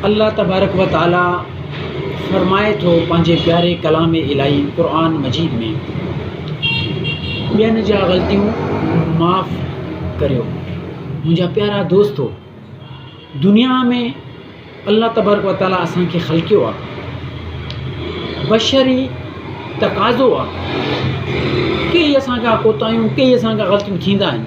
الله تبارڪ و تعاليٰ فرمائي ٿو پنهنجي پياري ڪلام الاهي قرآن مجيد ۾، ٻين جا غلطيون معاف ڪريو منهنجا پيارا دوستو دنيا ۾ الله تبارڪ و تعاليٰ اسانکي خلقيو آهي بشري تقاضو آهي ڪي اسان کان ڪوتاهيون ڪي اسان کان غلطيون ٿيندا آهن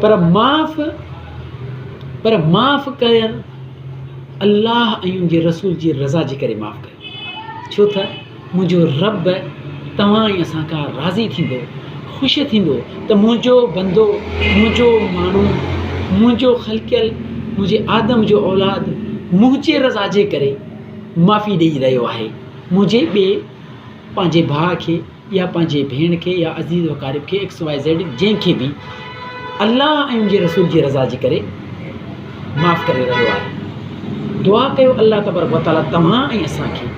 پر معاف پر معاف ڪريان الله ۽ ان جي رسول جي رضا جي ڪري معاف ڪريان ڇو تھ منھنجو ربّ توھان ۽ اسان کان راضي ٿيندو، خوش ٿيندو تھ منھنجو بندو، منھنجو ماڻھو، منھنجو خلقيل، منھنجي آدم جو اولاد منھنجي رضا جي ڪري معافي ڏيئي رھيو آھي، منھنجي ٻئي پنهنجي ڀاء کي يا پنهنجي ڀيڻ کي يا عزيز و قارب کي ايڪس واء زيڊ جنهن کي به الله ۽ ان جي رسول جي رضا جي ڪري معاف ڪري رهيو آهي دعا ڪيو الله تبارڪ و تعاليٰ توهان ۽ اسان کي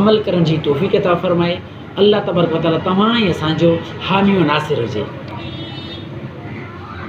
عمل ڪرڻ جي توفيق عطا فرمائي الله تبارڪ و تعاليٰ توهان ۽ اسان جو حامي و ناصر هجي.